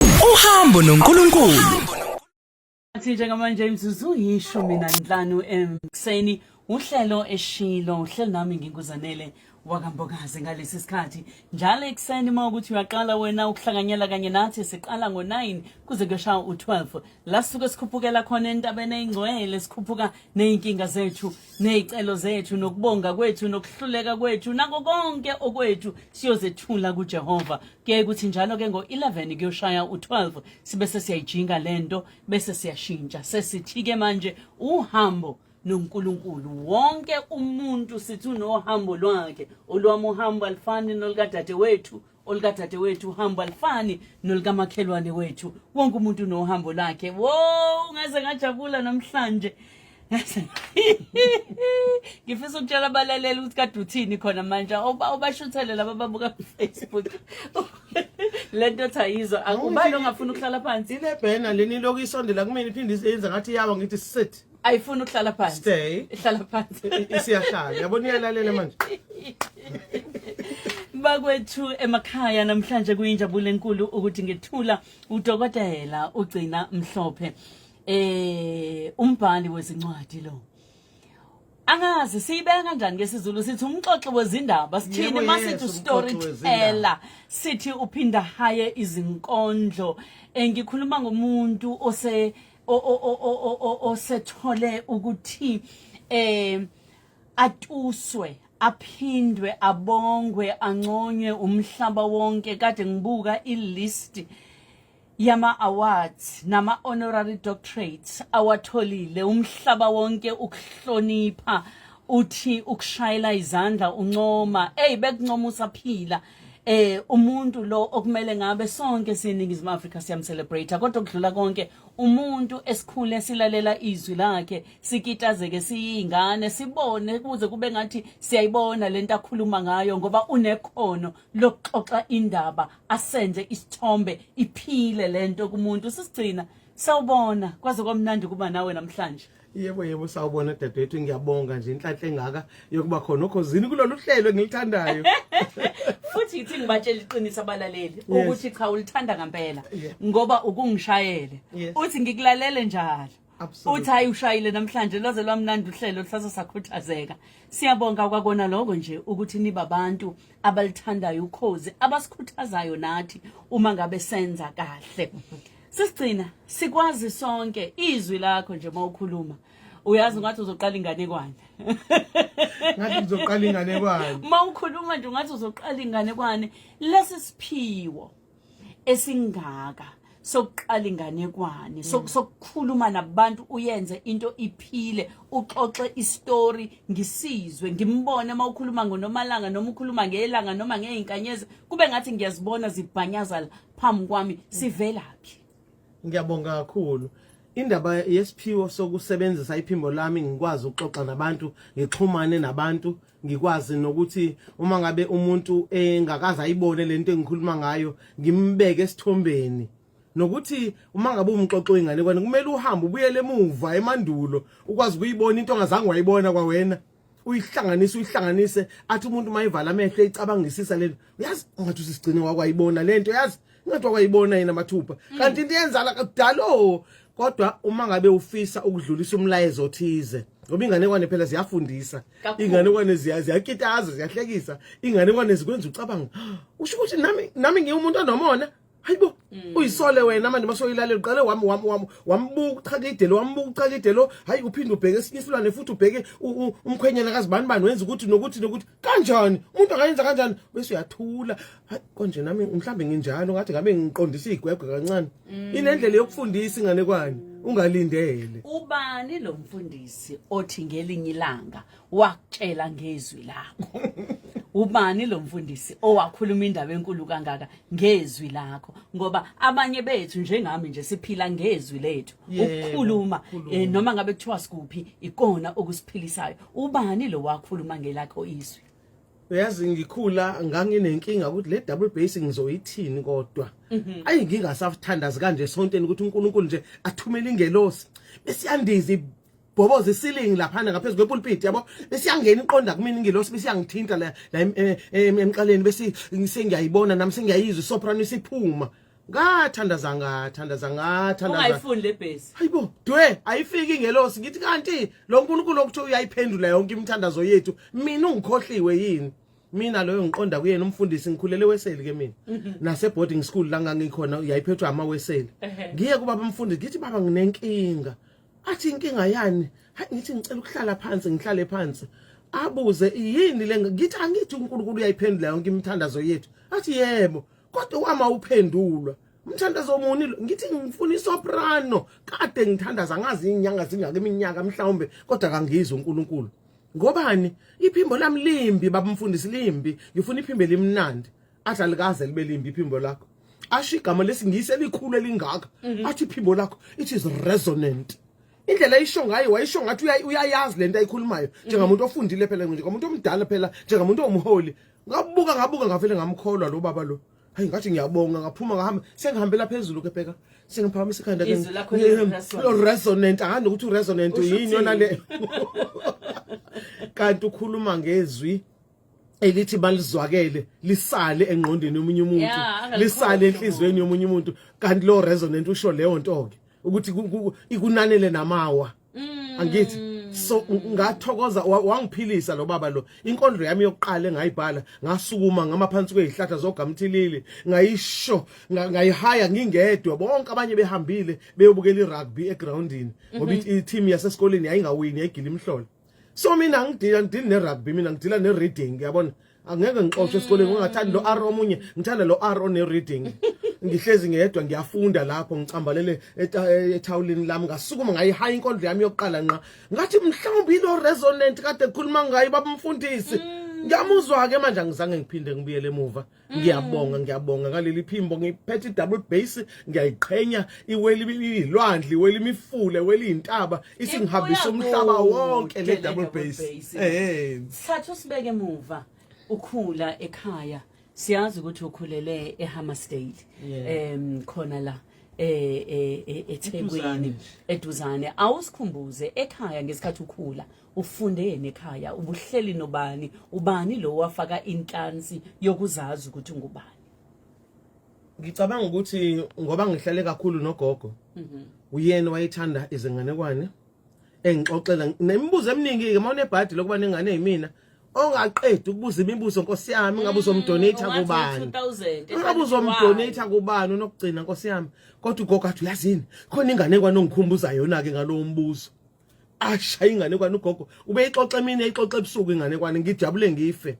Uhambo noNkulunkulu. Athi njengamanje imzuzu yishumi nanhlanu emseni uhlelo eshilo uhlelo nami nginguzanele wakambokazi ngalesi sikhathi njalo ekuseni uma ukuthi uyaqala wena ukuhlanganyela kanye nathi siqala ngo-9 kuze kuyoshaya u-12 la sisuke sikhuphukela khona entabeni eyingcwele sikhuphuka ney'nkinga zethu ney'celo zethu nokubonga kwethu nokuhluleka kwethu nako konke okwethu siyozethula kujehova kuye kuthi njalo ke ngo-11 kuyoshaya u-12 sibe sesiyayijinga le nto bese siyashintsha sesithi-ke manje uhambo nonkulunkulu wonke umuntu sithi unohambo lwakhe olwami uhambo alifani nolukadade wethu olukadade wethu uhambo alifani nolukamakhelwane wethu wonke umuntu unohambo lakhe wo ngaze ngajabula namhlanje ngifisa ukutshela abalaleli ukuthi kade uthini khona manje ubashuthele laba babuka kufacebook le nto othi ayizwa ubani ongafuni ukuhlala phansi inebhena leni iloku isondela kumina iphinde iyenza ngathi iyawa ngithi sit ayifuni ukuhlala phansi stay ihlala phansi isiyahlala yabona iyalalela manje bakwethu emakhaya namhlanje kuyinjabulo enkulu ukuthi ngethula udokotela ugcina mhlophe eh umbhali wezincwadi lo angazi siyibeka kanjani ngesizulu sithi umxoxi wezindaba sithini masithi ustoryteller sithi uphinda haye izinkondlo engikhuluma ngomuntu ose osethole ukuthi eh atuswe aphindwe abongwe anconywe umhlaba wonke kade ngibuka ilist yama-awards nama-honorary doctorates awatholile umhlaba wonke ukuhlonipha uthi ukushayela izandla uncoma eyi bekuncoma usaphila eh umuntu lo okumele ngabe sonke siningizimu Africa siyamcelebrate kodwa kudlula konke umuntu esikhule silalela izwi lakhe sikitazeke siyingane sibone kuze kube ngathi siyayibona lento akhuluma ngayo ngoba unekhono lokuxoxa indaba asenze isithombe iphile lento kumuntu sisigcina sawubona kwaze kwamnandi kuba nawe namhlanje yebo yebo sawubona dadewethu ngiyabonga nje inhlanhla engaka yokuba khona okhozini kulolu hlelo engilithandayo futhi yithi ngibatshela iqiniso abalaleli ukuthi cha ulithanda ngempela ngoba ukungishayele uthi ngikulalele njalo uthi hayi ushayile namhlanje lwaze lwamnandi uhlelo luhlase sakhuthazeka siyabonga kwakona lokho nje ukuthi niba abantu abalithandayo ukhozi abasikhuthazayo nathi uma ngabe senza kahle sisigcina sikwazi sonke izwi lakho nje uma ukhuluma uyazi ngathi uzoqala inganekwane ngathi uzoqala inganekwane uma ukhuluma nje ngathi uzoqala inganekwane lesi siphiwo esingaka sokuqala inganekwane mm. sokukhuluma nabantu uyenze into iphile uxoxe istory ngisizwe ngimbone uma ukhuluma ngonomalanga noma ukhuluma ngelanga noma ngeinkanyezi kube ngathi ngiyazibona zibhanyazala phambi kwami mm. sivelaphi ngiyabonga kakhulu indaba yesiphiwo sokusebenzisa iphimbo lami ngikwazi ukuxoxa nabantu ngixhumane nabantu ngikwazi nokuthi uma ngabe umuntu engakaze ayibone lento engikhuluma ngayo ngimbeke esithombeni nokuthi uma ngabe umxoxo ingane kwani kumele uhambe ubuyele emuva emandulo ukwazi ukuyibona into ongazange wayibona kwawena uyihlanganise uyihlanganise athi umuntu mayivala amehlo eyicabangisisa lento uyazi ungathi usisigcine wakwayibona lento uyazi Ngathi wayibona yena mathupha. Mm. Kanti into yenzala kudalo oh, kodwa uma ngabe ufisa ukudlulisa umlayezo othize ngoba inganekwane phela ziyafundisa inganekwane ziyakitaza ziyahlekisa inganekwane zikwenza ucabanga ah, usho ukuthi nami nami ngiwumuntu onomona hayibo mm. uyisole wena manje masoyilalela uqale wami wami wami wambuka uchakide lo wambuka uchakide lo hayi uphinde ubheke esinye isilwane futhi ubheke umkhwenyana kazibani bani wenza ukuthi nokuthi nokuthi kanjani umuntu angayenza kanjani bese uyathula hayi konje nami mhlawumbe nginjalo ngathi ngabe ngiqondisa igwegwe kancane mm. inendlela yokufundisa inganekwane ungalindele ubani lo mfundisi othi ngelinye ilanga wakutshela ngezwi lakho ubani lo mfundisi owakhuluma indaba enkulu kangaka ngezwi lakho ngoba abanye bethu njengami nje siphila ngezwi lethu ukukhuluma eh, noma ngabe kuthiwa sikuphi ikona okusiphilisayo ubani lo wakhuluma ngelakho izwi uyazi ngikhula nganginenkinga ukuthi le double base ngizoyithini kodwa mhm. ayi ngingasathandazi kanje esonteni ukuthi uNkulunkulu nje athumele ingelosi besiyandiza ibhoboza isilingi laphana ngaphezu kwepulpit yabo besiyangena iqonda kumina ingelosi besiyangithinta la eh, eh, emqaleni bese sengiyayibona nami sengiyayizwa isoprano isiphuma ngathandaza ngathandaza ngathandaza ungayifuni le base hayibo dwe ayifiki ingelosi ngithi kanti lo nkulunkulu okuthiwa uyayiphendula yonke imithandazo yethu mina ungikhohliwe yini mina loyo ngiqonda kuyena umfundisi ngikhulele weseli ke mina mhm. nase boarding school la ngangikhona yayiphethwa ama weseli ngiye kuba bamfundisi ngithi baba nginenkinga athi inkinga yani hayi ngithi ngicela ukuhlala phansi ngihlale phansi abuze yini le ngithi angithi uNkulunkulu uyayiphendula yonke imithandazo yethu athi yebo kodwa wama uphendulwa umthandazo omuni lo ngithi ngifuna isoprano kade ngithandaza ngazi inyanga zingaka iminyaka mhlawumbe kodwa kangizwe uNkulunkulu ngobani iphimbo lami limbi babumfundisi limbi ngifuna iphimbo elimnandi adlalikaze libe limbi iphimbo lakho asho igama lesingisi elikhulu elingaka mhm. athi iphimbo lakho it is resonant indlela ayisho ngayo wayisho ngathi uyayazi lento ayikhulumayo njengamuntu ofundile phela nje komuntu omdala phela njengamuntu omholi ngabuka ngabuka ngavele ngamkholwa lo baba lo hayi ngathi ngiyabonga ngaphuma ngahamba sengihambela phezulu ke bheka sengiphakamisa ikhanda ke lo resonant angazi nokuthi uresonant yini yona le kanti ukhuluma ngezwi elithi balizwakele lisale engqondweni yomunye umuntu lisale enhlizweni yomunye umuntu kanti lo resonant usho leyo nto ke ukuthi ikunanele namawa Mm. angithi so ngathokoza wangiphilisa lo baba lo inkondlo yami yokuqala engayibhala ngasukuma ngama phansi kwezihlahla zogamthilili ngayisho ngayihaya ngingedwa bonke abanye behambile beyobukela irugby egroundini ngoba mhm. i-team yasesikoleni yayingawini yayigila imhlolo so mina ngidila ngidila ne-rugby mina ngidila ne-reading yabona angeke ngixoxe esikoleni ngingathandi lo R omunye ngithanda lo R one reading ngihlezi ngedwa ngiyafunda lapho ngicambalele ethawulini lami ngasukuma ngayihayi inkondlo yami yokuqala nqa ngathi mhlawumbe ilo resonant kade kukhuluma ngayo babumfundisi mm. ngiyamuzwa ke manje angizange ngiphinde ngibuyele emuva mm. ngiyabonga ngiyabonga ngaleli phimbo ngiphethe double base ngiyayiqhenya iweli ilwandle iweli imifule weli intaba isingihambisa umhlaba wonke le double bass eh sithatha usibeke emuva ukhula ekhaya siyazi ukuthi ukhulele eHammersdale em khona la e, e, e, eThekwini eduzane awusikhumbuze ekhaya ngesikhathi ukhula ufundeni ekhaya ubuhleli nobani ubani lo wafaka inhlansi yokuzazi ukuthi ngubani ngicabanga ukuthi ngoba ngihlale kakhulu nogogo mhm. uyena wayethanda izinganekwane engixoxela nemibuzo eminingi ke uma unebhadi lokuba nengane yimina ongaqedi ukubuza imibuzo nkosi yami ngabe uzomdonate mm, kubani ngabe uzomdonate kubani unokugcina nkosi yami kodwa ugogo athi uyazini khona ingane kwanongikhumbuza yona ke ngalowo mbuzo ashaya inganekwane ugogo ubeyixoxa emini eyixoxa ebusuku inganekwane ngijabule ngife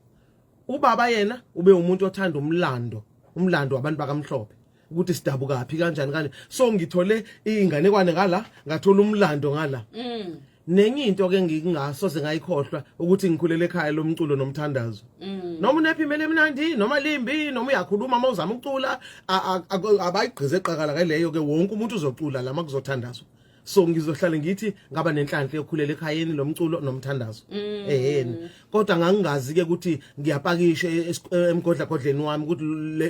ubaba yena ube umuntu othanda umlando umlando wabantu bakamhlophe ukuthi sidabukaphi kanjani kanje so ngithole inganekwane ngala ngathola umlando ngala mm. nenye into ke ngingasoze ngayikhohlwa ukuthi ngikhulele ekhaya lomculo nomthandazo mm. noma unephi imele emnandi noma limbi noma uyakhuluma uma uzama ukucula abayigqize eqakala ke leyo ke wonke umuntu uzocula lama kuzothandazwa so ngizohlale ngithi ngaba nenhlanhla yokhulela ekhayeni lomculo nomthandazo mm. eheni kodwa ngangingazi ke ukuthi ngiyapakisha e-, e-, emgodla godleni wami ukuthi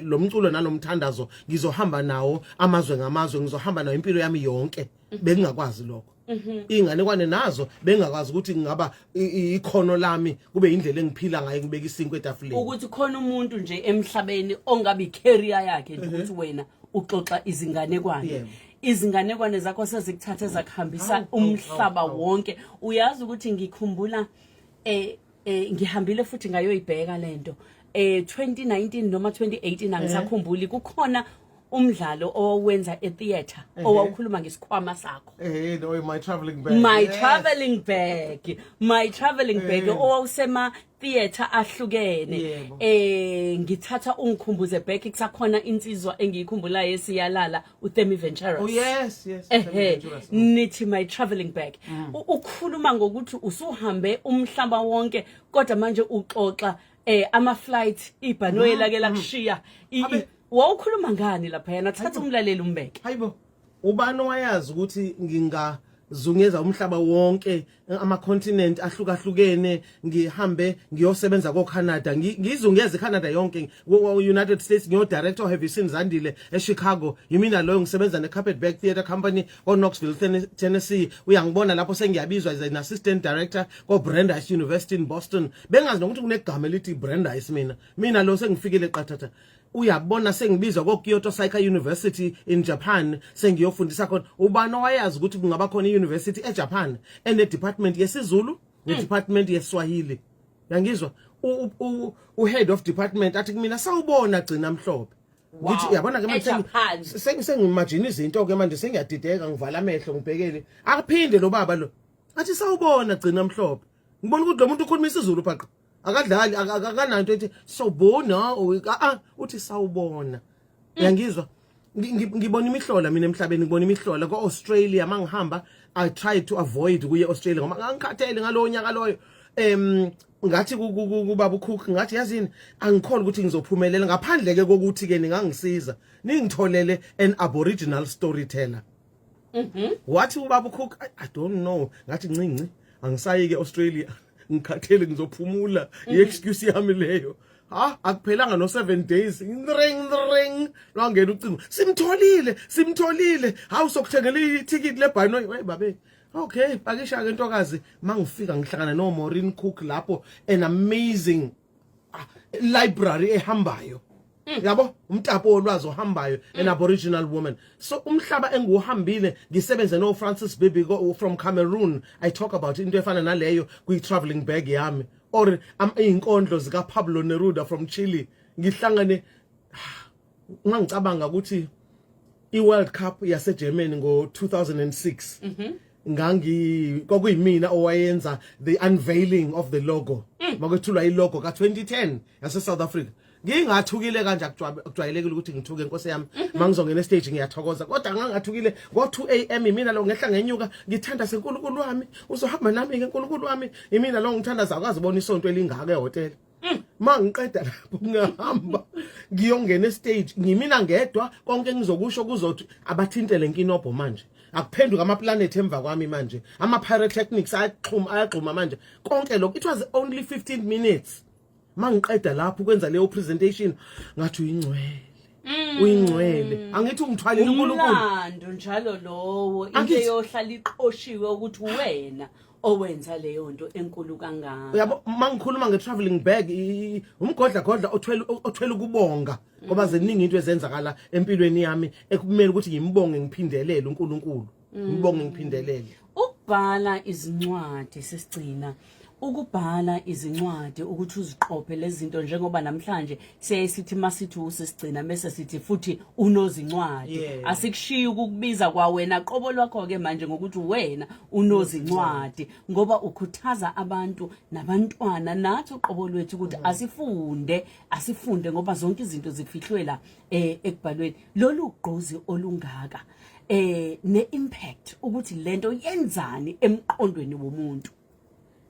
lo mculo nalomthandazo ngizohamba nawo amazwe ngamazwe ngizohamba nawo impilo yami yonke mhm. bengingakwazi lokho mhm. ingane kwane nazo bengakwazi ukuthi ngingaba ikhono lami kube indlela engiphila ngayo ngibeka isinkwe etafuleni ukuthi khona umuntu nje emhlabeni ongabe icareer yakhe nje mhm. ukuthi wena uxoxa izinganekwane izinganekwane zakho sezikuthathe zakuhambisa umhlaba wonke uyazi ukuthi ngikhumbula eh eh ngihambile futhi ngayoyibheka lento eh 2019 noma 2018 eh. angisakhumbuli kukhona umdlalo owenza etheater eh. owawukhuluma ngesikhwama sakho eh no my traveling bag my traveling bag my traveling bag eh. owawusema theater ahlukene Yebo. eh ngithatha ungikhumbuze back kusakhona insizwa engiyikhumbulayo esiyalala uThemi Venturous Oh yes, yes. Ehe, Adventurous. nithi my traveling bag U- ukhuluma ngokuthi usuhambe umhlaba wonke kodwa manje uxoxa eh ama flight ibhanoyi lake lakushiya I- i- Abe- wawukhuluma ngani lapha yena thatha umlaleli umbeke Hayibo. ubani owayazi ukuthi nginga zungeza umhlaba wonke ama continent ahlukahlukene ngihambe ngiyosebenza ko Canada ngizungeze Canada yonke wo United States ngiyo director have you seen Zandile e Chicago yimina loyo ngisebenza ne Carpetbag Theatre Company o Knoxville Tennessee uyangibona lapho sengiyabizwa as an assistant director ko Brandeis University in Boston bengazi nokuthi kunegama elithi Brandeis mina mina lo sengifikile qathatha uyabona sengibizwa ko-kyoto psycha university in japan sengiyofundisa khona ubani owayazi ukuthi kungaba khona i-university ejapan enedepartment yesizulu hmm. nedepartment yeswahili yangizwa uhead of department athi kumina sawubona gcina mhlophe ngithi uyabona ke manje sengimajina izinto ke manje sengiyadideka ngivala amehlo ngibhekele akaphinde lo baba lo athi sawubona gcina mhlophe ngibona ukuthi lo muntu ukhuluma isizulu phaqa akadlali aka- aka- akananto ethi sobona or ah, ah, uthi sawubona uyangizwa Ngi- ngi- ngibona imihlola mina emhlabeni ngibona imihlola ko-australia ma ngihamba i try to avoid kuye australia ngoba ngangikhathele ngalowo nyaka loyo um ngathi ku- ku- ku- kubaba ucook ngathi yazini angikhole ukuthi ngizophumelela ngaphandle-ke kokuthi-ke ningangisiza ningitholele an aboriginal storyteller wathi ubaba ucook "I- i don't know ngathi ncinci angisayi-ke australia ngikhathele ngizophumula mm. i-excuse yami leyo ha akuphelanga no 7 days ring ring lwangena ucingo simtholile simtholile hawu sokuthengela ithikithi lebhanoyi hey babe okay pakisha ke ntokazi mangifika ngihlangana no Maureen Cook lapho an amazing ah, library ehambayo Mm. yabo umtapo wolwazi ohambayo mm. an aboriginal woman so umhlaba engiwuhambile ngisebenze no Francis Bibi from Cameroon i talk about into efana naleyo kwi traveling bag yami or am inkondlo zika Pablo Neruda from Chile ngihlangane ngangicabanga ukuthi iWorld Cup yaseGermany ngo2006 mhm ngangi kwakuyimina owayenza the unveiling of the logo mm. makwethulwa ilogo ka2010 yase South Africa ngingathukile kanje akujwayelekile ukuthi ngithuke inkosi yami mhm. mangizongena stage ngiyathokoza kodwa ngangathukile ngo 2 am imina lo ngehla ngenyuka ngithanda senkulunkulu wami uzohamba nami ke nkulunkulu wami imina lo ngithanda zakwazi bona isonto elingaka ehotel Mm. ma ngiqeda lapho ngihamba ngiyongena estage ngimina ngedwa konke engizokusho kuzothi abathinte le nkinobho manje akuphenduka amaplanethi emva kwami manje ama-pyrotechnics ayaxhuma ayagxuma manje konke lokho it was only 15 minutes ma ngiqeda lapho ukwenza leyo presentation ngathi uyingcwele Mm. uyingcwele angithi ungithwalile uNkulunkulu umlando njalo lowo into eyohlala iqoshiwe ukuthi wena owenza leyo nto enkulu kangaka uyabo uma ngikhuluma nge-travelling bag umgodla godla othwele ukubonga ngoba ziningi into ezenzakala empilweni yami ekumele ukuthi ngimubonge ngiphindelele unkulunkulu mm. ngibonge ngiphindelele ukubhala izincwadi sesigcina ukubhala izincwadi ukuthi uziqophe lezi zinto njengoba namhlanje siyaye sithi masithi usesigcina mese sithi futhi unozincwadi yeah. asikushiyi ukukubiza kwawena qobo lwakho-ke manje ngokuthi wena unozincwadi ngoba ukhuthaza abantu nabantwana nathi uqobo lwethu ukuthi mm. asifunde asifunde ngoba zonke izinto zifihlwe la eh, ekubhalweni lolu gqozi olungaka eh ne-impact ukuthi lento yenzani emqondweni womuntu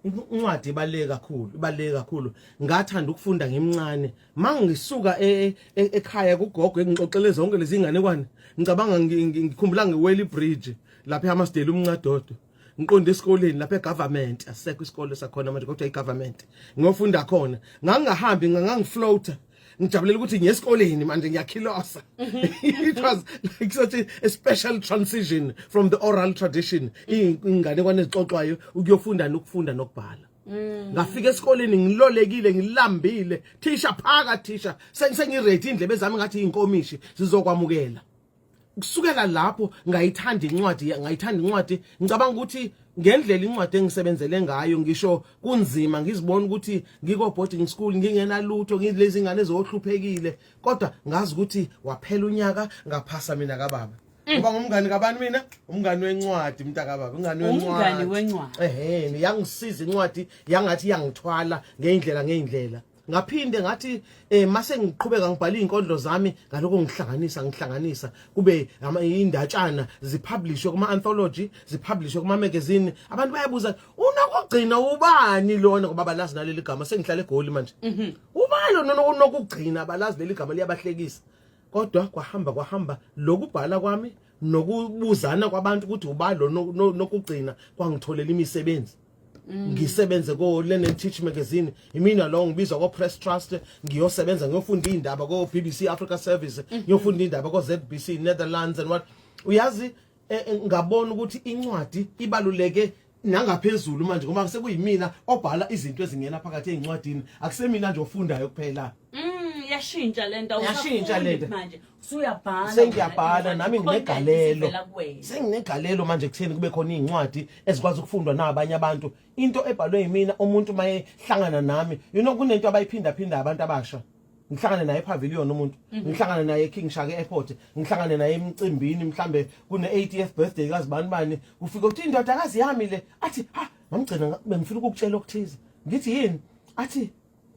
incwadi ibaleke kakhulu ibaleke kakhulu ngathanda ukufunda ngimncane mangisuka e, e, e, ekhaya kugogo engixoxele zonke lezi inganekwane ngicabanga ngikhumbula ngeweli bridge lapha eHammarsdale umncadodo ngiqonde esikoleni lapha egovernment asekho isikole sakhona manje kodwa igovernment ngiyofunda khona ngangingahambi ngangangifloater ngijabulela ukuthi ngiyesikoleni manje ngiyakhilosa mhm. it was like such a special transition from the oral tradition ingane kwane zixoxwayo ukuyofunda nokufunda nokubhala mm. ngafika esikoleni ngilolekile ngilambile thisha phaka thisha sengiready indlebe zami ngathi inkomishi sizokwamukela kusukela lapho ngayithanda incwadi ngayithanda incwadi ngicabanga ukuthi ngendlela incwadi engisebenzele ngayo ngisho kunzima ngizibona ukuthi ngiko boarding school ngingenalutho ngilezi ngane zohluphekile kodwa ngazi ukuthi waphela unyaka ngaphasa mina kababa Mm. ngoba ngumngani kabani mina umngani wencwadi mntaka baba umngani wencwadi umngani wencwadi ehhe yangisiza incwadi yangathi yangithwala ngeindlela ngeindlela ngaphinde ngathi eh mase ngiqhubeka ngibhala izinkondlo zami ngaloko ngihlanganisa ngihlanganisa kube indatshana zipublishwe kuma anthology zipublishwe kuma magazine abantu bayabuza unokugcina ubani lona ngoba balazi naleli gama sengihlale egoli manje mhm. ubani lona unokugcina balazi leli gama liyabahlekisa kodwa kwahamba kwahamba lokubhala kwami nokubuzana kwabantu ukuthi ubani lona nokugcina kwangitholela imisebenzi Mm. ngisebenze ko Learn Teach magazine imina lo ngibizwa ko Press Trust ngiyosebenza ngiyofunda indaba ko BBC Africa Service mm-hmm. ngiyofunda indaba ko ZBC Netherlands and what uyazi eh, eh, ngabona ukuthi incwadi ibaluleke nangaphezulu manje ngoba sekuyimina obhala izinto ezingena phakathi ezincwadini akusemina nje ofundayo kuphela mm yashintsha lento awusafunda manje sengiyabhala nami nginegalelo senginegalelo manje kutheni kube khona iy'ncwadi ezikwazi ukufundwa nabanye abantu into ebhalwe yimina umuntu uma ehlangana nami you know kunento abayiphindaphinda abantu abasha ngihlangane naye epavilion umuntu mhm. ngihlangane naye eking shaka airport ngihlangane naye emcimbini mhlambe kune-80th birthday kazibani bani kufike ukuthi indodakazi yami le athi ha mamgcina bengifuna ukukutshela okuthize ngithi yini athi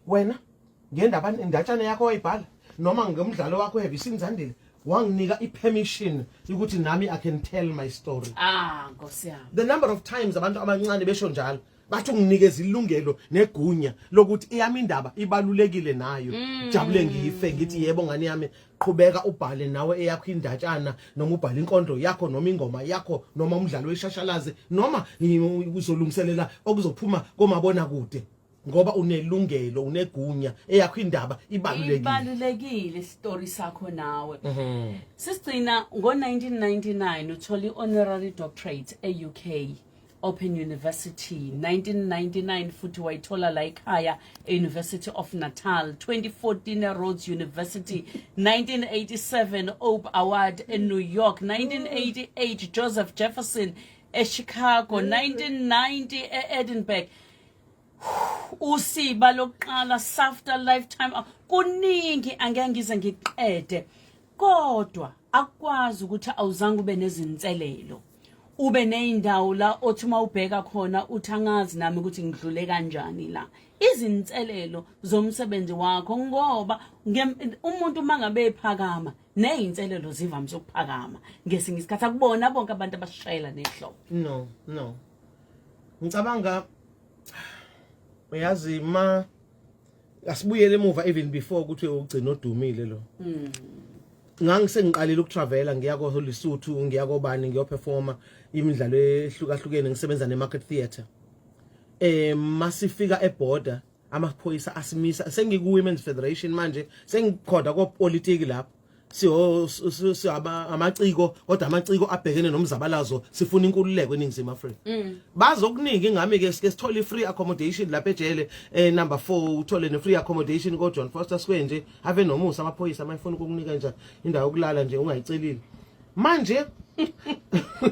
wena ngendaba indatshana yakho wayibhala noma ngomdlalo wakho have you seen Zandile wanginika ipermission ukuthi nami i can tell my story ah nkosi yami the number of times abantu abancane besho njalo bathi unginikeza ilungelo negunya lokuthi iyami indaba ibalulekile nayo mm. jabule ngife ngithi yebo ngani yami qhubeka ubhale nawe eyakho indatshana noma ubhale inkondlo yakho noma ingoma yakho noma umdlalo weshashalazi noma uzolungiselela okuzophuma komabona kude ngoba unelungelo unegunya eyakho indaba ibalulekile ibalulekile story sakho nawe mm -hmm. sisigcina ngo-1999 uthole i-honorary doctorate e-uk open university 1999 futhi wayithola la ekhaya e-university of natal 2014 erhodes university 1987 ope award enew york 1988 joseph jefferson echicago 1990 e-edinburgh usiba lokuqala safter lifetime kuningi angeke ngize ngiqede kodwa akwazi ukuthi awuzange ube nezinselelo ube nezindawo la othi uma ubheka khona uthi angazi nami ukuthi ngidlule kanjani la izinselelo zomsebenzi wakho ngoba umuntu uma ngabe ephakama nezinselelo zivamise ukuphakama ngesinye isikhathi akubona bonke abantu abashayela nehlobo no no ngicabanga uyazi ma asibuyele emuva even before ukuthi ugcina odumile lo mm. ngangisengiqalile ukutravela ngiya ko Lesotho ngiya kobani ngiyoperforma imidlalo ehlukahlukene ngisebenza ne market theatre eh masifika eborder amaphoyisa asimisa sengikuwomen's federation manje sengikhoda kopolitiki lapho amaciko kodwa amaciko abhekene nomzabalazo sifuna inkululeko eningizimu afrika mm. bazokuningi ngami ke sike sithole i-free accommodation lapha ejele eh, number four uthole ne-free accommodation kojohn foster square nje ave nomusa amaphoyisa amayifuna ukukunika nje indawo yokulala nje ungayicelile manje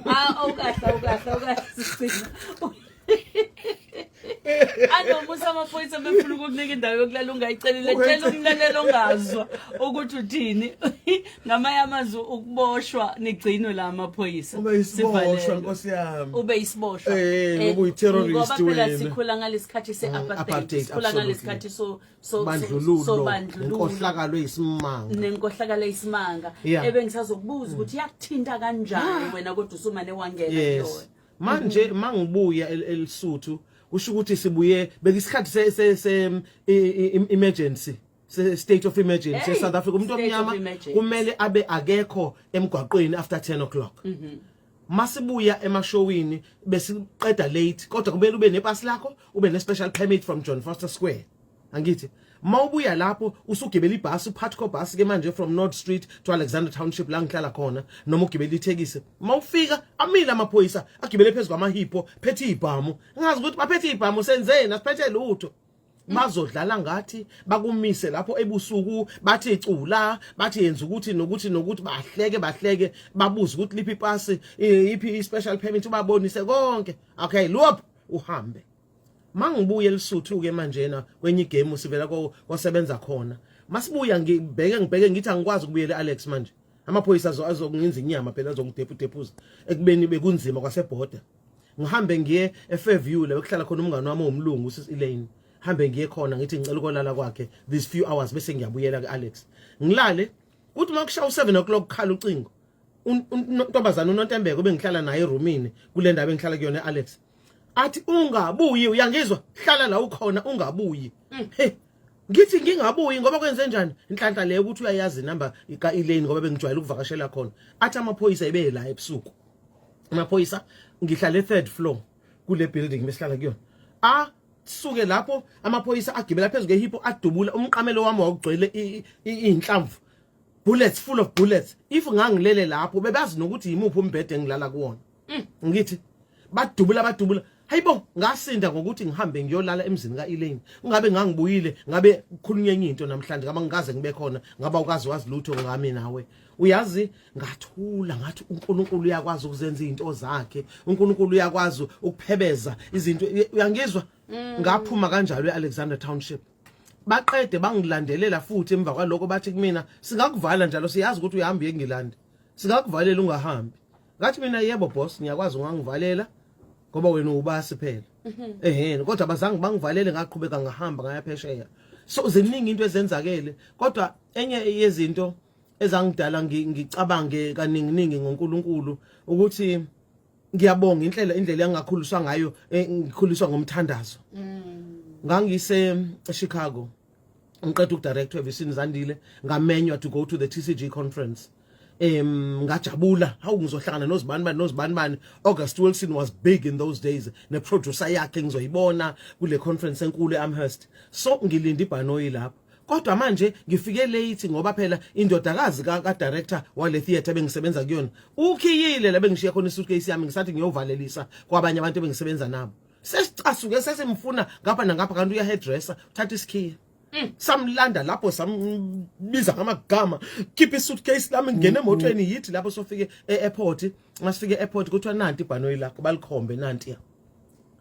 ah awukahle awukahle awukahle anomusa amaphoyisa befuna ukukunika indawo yokulala ungayicelela tshela umlalelo ongazwa ukuthi uthini ngamanye amazwi ukuboshwa nigcinwe la amaphoyisa ube isiboshwa nkosi yami ube isiboshwa eh, eh ngoba ngoba phela sikhula ngalesikhathi mm, seapartheid sikhula ngalesikhathi so so so bandlululo inkohlakalo isimanga nenkohlakalo isimanga ebengisazokubuza ukuthi yakuthinta kanjani ah. wena kodwa usumane wangena yona manje mm-hmm. mangibuya elisuthu kusho ukuthi sibuye bekisikhathi se se, se um, emergency se state of emergency hey, South Africa umuntu omnyama kumele abe akekho emgwaqweni after 10 o'clock mm -hmm. masibuya emashowini besiqeda late kodwa kumele ube nepasi lakho ube ne special permit from John Foster Square angithi uma ubuya lapho usugibela ibhasi uphathi kobhasi ke manje from North Street to Alexander Township la ngihlala khona noma ugibela ithekisi uma ufika amile amaphoyisa agibele phezulu kwamahipho phethe ibhamu ngazi ukuthi baphethe ibhamu senzeni asiphethe lutho bazodlala ngathi bakumise lapho ebusuku bathi icula bathi yenza ukuthi nokuthi nokuthi bahleke bahleke babuze ukuthi liphi ipasi iphi i special permit ubabonise konke okay lop uhambe mangibuye elisuthu ke manjena kwenye igame sivela kosebenza khona masibuya ngibheke ngibheke ngithi angikwazi ukubuyela Alex manje amaphoyisa azokungenza inyama phela azongidepudephuza ekubeni bekunzima kwasebhoda ngihambe ngiye eFairview la bekuhlala khona umngane wami omlungu usis Elaine hambe ngiye khona ngithi ngicela ukolala kwakhe these few hours bese ngiyabuyela kuAlex ngilale kuthi makushaya u7 o'clock khala ucingo untombazana uNontembeko bengihlala naye eroomini kule ndawo engihlala kuyona Alex athi ungabuyi uyangizwa hlala la ukhona ungabuyi mm. hey ngithi ngingabuyi ngoba kwenze njani inhlanhla leyo ukuthi uyayazi number ka Elaine ngoba bengijwayele ukuvakashela khona athi amaphoyisa ebe la ebusuku amaphoyisa ngihlale third floor kule building besihlala kuyona a suke lapho amaphoyisa agibela phezulu kehipho adubula umqamelo wami wawugcwele inhlamvu bullets full of bullets if ngangilele lapho bebazi nokuthi yimuphi umbhede engilala kuwona mm. ngithi badubula badubula hayibo ngasinda ngokuthi ngihambe ngiyolala emzini ka-elaine ngabe ngangibuyile ngabe kukhulunywa enye into namhlanje ngaba ngikaze ngibe khona ngaba ukazi wazi lutho ngami nawe uyazi ngathula ngathi uNkulunkulu uyakwazi ukuzenza izinto zakhe uNkulunkulu uyakwazi ukuphebeza izinto uyangizwa mm. ngaphuma kanjalo eAlexander Township baqede bangilandelela futhi emva kwaloko bathi kumina singakuvala njalo siyazi ukuthi uyahamba uyengilanda singakuvalela ungahambi ngathi mina yebo boss ngiyakwazi ungangivalela ngoba wena ubasi phela mhm. eheni kodwa bazange bangivalele ngaqhubeka ngahamba ngaya phesheya so ziningi into ezenzakele kodwa enye yezinto ezangidala ngicabange kaningi ningi ngoNkulunkulu ukuthi ngiyabonga inhlela indlela engakhuliswa ngayo eh, ngikhuliswa ngomthandazo mm. ngangise Chicago ngiqeda ukudirector evisini zandile ngamenywa to go to the tcg conference um ngajabula hawu ngizohlangana nozibani bani nozibani bani august wilson was big in those days neproducer yakhe ngizoyibona kule conference enkulu eamherst so ngilinde ibhanoyi lapho kodwa manje ngifike late ngoba phela indodakazi ka-director wale theatre bengisebenza kuyona ukhiyile la bengishiya khona isuitcase yami ngisathi ngiyovalelisa kwabanye abantu bengisebenza nabo sesicasuke sesimfuna ngapha nangapha kanti uyahedressa uthatha isikhiya Mm. samlanda lapho sambiza ngamagama khipha isuitcase lami ngene mm, mm. emotweni yithi lapho sofike e-airport masifike e-airport kuthiwa nanti ibhanoyi lakho balikhombe nanti ya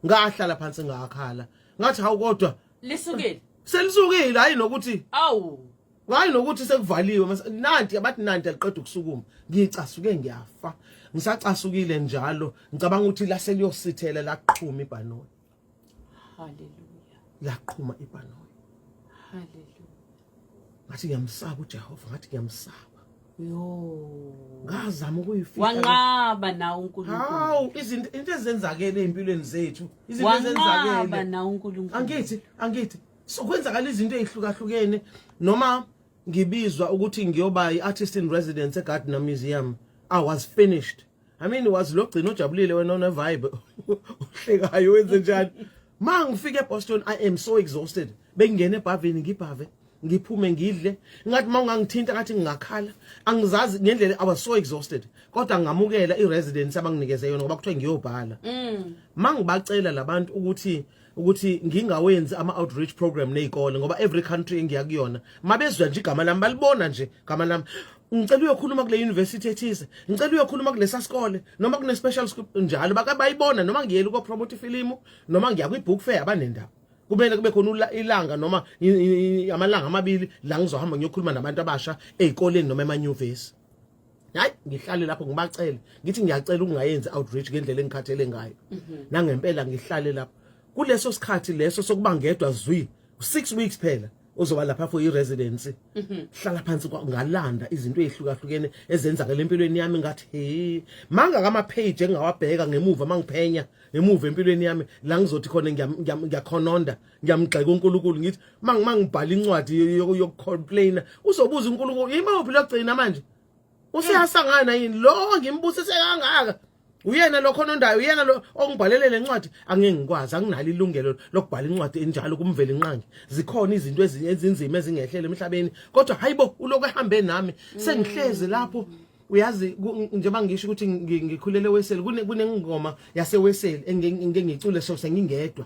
ngahlala phansi ngakhala ngathi hawu kodwa lisukile selisukile hayi nokuthi awu ngayi nokuthi sekuvaliwe nanti abathi nanti aliqeda ukusukuma ngicasuke ngiyafa ngisacasukile njalo ngicabanga ukuthi lase liyosithela laqhuma ibhanoyi haleluya laqhuma ibhanoyi haleluya ngathi ngiyamsaba uJehova ngathi ngiyamsaba yo ngazama ukuyifika wanqaba na uNkulunkulu hawu izinto into ezenzakele empilweni zethu izinto ezenzakele wanqaba na uNkulunkulu angithi angithi so kwenzakala izinto ezihlukahlukene noma ngibizwa ukuthi ngiyoba i-artist in residence eGardner Museum I was finished I mean was lo gcina ojabulile wena one vibe uhlekayo wenze njani ma ngifike eBoston I am so exhausted bengingena ebhavini ngibhave ngiphume ngidle ngathi uma ungangithinta ngathi ngingakhala angizazi ngendlela I was so exhausted kodwa ngamukela i-residence abanginikeze yona ngoba kuthiwa ngiyobhala mm. ma ngibacela labantu ukuthi ukuthi ngingawenzi ama-outreach program ney'kole ngoba every country engiya kuyona mabezwa nje igama lami balibona nje igama lami ngicela uyokhuluma kule university ethize ngicela uyokhuluma kulesa sikole noma kune special school njalo bakabayibona noma ngiyela uko promote ifilimu noma ngiya kwi book fair abanendaba kumele kube khona ilanga noma amalanga amabili la ngizohamba ngiyokhuluma nabantu abasha ezikoleni noma emanyuvesi hayi ngihlale lapho ngibacele ngithi ngiyacela ukungayenzi outreach ngendlela engikhathele ngayo mhm. nangempela ngihlale lapho kuleso sikhathi leso sokuba ngedwa zwi 6 weeks phela uzoba lapha for i-residency mhm. hlala phansi ngalanda izinto ezihlukahlukene ezenzakele empilweni yami ngathi he manga kama-page engingawabheka ngemuva mangiphenya ngemuva empilweni yami la ngizothi khona ngiyakhononda ngiyamgxeka uNkulunkulu ngithi mangibhala incwadi yokucomplaina uzobuza uNkulunkulu yimuphi logcina manje useyasangana yini lo ngimbusise kangaka uyena lo khonondayo uyena lo ongibhalele lencwadi angeke ngikwazi anginalo ilungelo lokubhala incwadi enjalo kumvela inqangi zikhona izinto ezinye ezinzima ezingehlele emhlabeni kodwa hayibo uloku ehambe nami sengihlezi lapho uyazi njengoba ngisho ukuthi ngikhulele weseli kunengoma yaseweseli engike ngicule so sengingedwa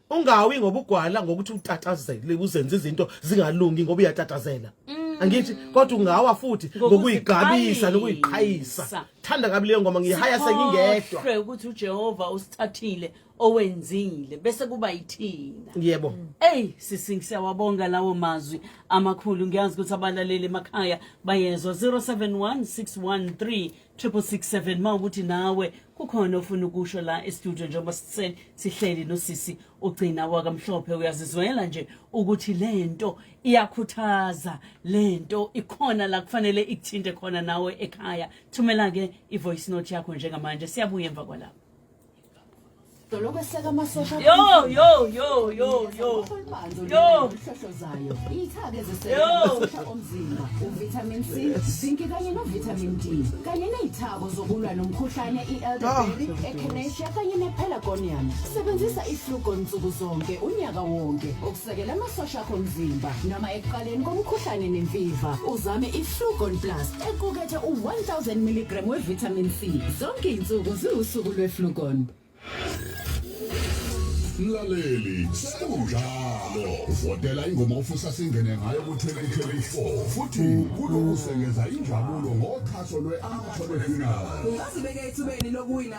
ungawi ngoba ugwala ngokuthi utatazele uzenza izinto zingalungi ngoba uyatatazela mm. angithi kodwa ungawa futhi ngokuyigqabisa nokuyiqhayisa thanda kabi leyo ngoma ngiyihaya sengingedwa sikhohlwe ukuthi uJehova usithathile owenzile bese kuba yithina yebo hey sisi siyawabonga lawo mazwi amakhulu ngiyazi ukuthi abalaleli emakhaya bayezwa 071613 triple six seven ma ukuthi nawe kukhona ofuna ukusho la estudio njengoba sise- sihleli nosisi ugcina wakamhlophe uyazizwela nje ukuthi le nto iyakhuthaza le nto ikhona la kufanele ikuthinte khona nawe ekhaya thumela-ke i-voice note yakho njengamanje siyabuya emva kwalapho Dolokweseka amasosha. Yo yo yo yo yo. Yo. Ihlohlozayo. Iyithake eziseka amasosha omzimba, uvitamin C, zinc kanye novitamin D. Kanye nezithako zokulwa nomkhuhlane i-elderberry, ah. echinacea kanye nepelargonium. Sebenzisa iflugon nsuku zonke unyaka wonke. Sekela amasosha akho omzimba noma ekuqaleni komkhuhlane nemfiva uzame i-flugon plus equkethe u-1000 mg we-vitamin c zonke iy'nsuku ziwusuku lwe-flugon mlaleli sekunjalo votela ingoma ofisa singene ngayo ku-2024 futhi kulungisengeza injabulo ngoxhaso lwe-amateur final ungazibeka ethubeni lokuwina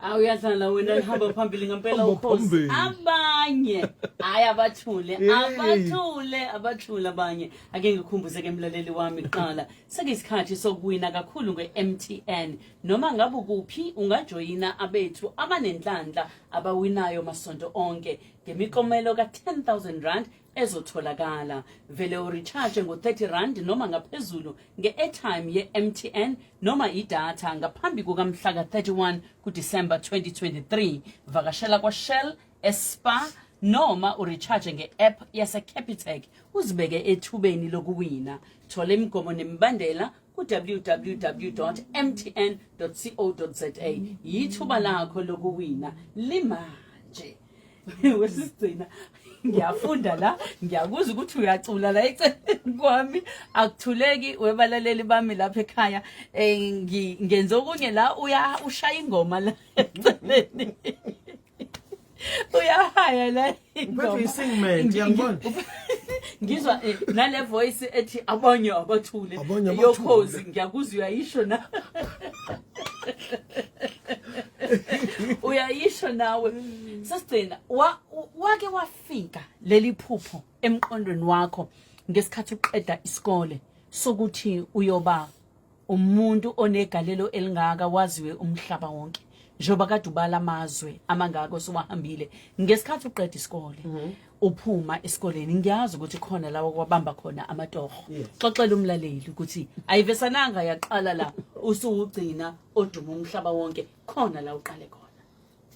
awu uyadlala wena lihamba phambili ngempela Hamba ukhosi phambili. abanye hayi abathule Yey. abathule abathule abanye ake ngikhumbuze ke mlaleli wami kuqala sekuyisikhathi sokuwina kakhulu nge-mtn noma ngabe ukuphi ungajoyina abethu abanenhlanhla abawinayo masonto onke ngemikomelo ka-10000 rand ezotholakala vele urecharge ngo-30 rand noma ngaphezulu nge-airtime ye-mtn noma idatha ngaphambi kukamhla ka-31 kudisemba 2023 vakashela kwashell espa noma urecharge nge-app yasecapitec uzibeke ethubeni lokuwina thola imigomo nemibandela ku-www mtn co za yithuba lakho lokuwina limanje wesigcina ngiyafunda la ngiyakuzwa ukuthi uyacula la eceleni kwami akuthuleki webalaleli bami lapha ekhaya eh, ngenze okunye la uya ushaya ingoma la eceleni uyahaya la ingoma ngizwa eh, nale voice ethi abanye abathule yokhozi ngiyakuzwa uyayisho na uyayisho nawe sesigcina wa- u- wake wafika leli phupho emqondweni wakho ngesikhathi uqeda isikole sokuthi uyoba umuntu onegalelo elingaka waziwe umhlaba wonke njengoba kade ubala amazwe amangaka osowahambile ngesikhathi uqeda isikole uphuma esikoleni ngiyazi ukuthi khona lawo kwabamba khona amatoho xoxela umlaleli ukuthi ayivesananga yaqala la usuwugcina oduma umhlaba wonke khona la uqale khona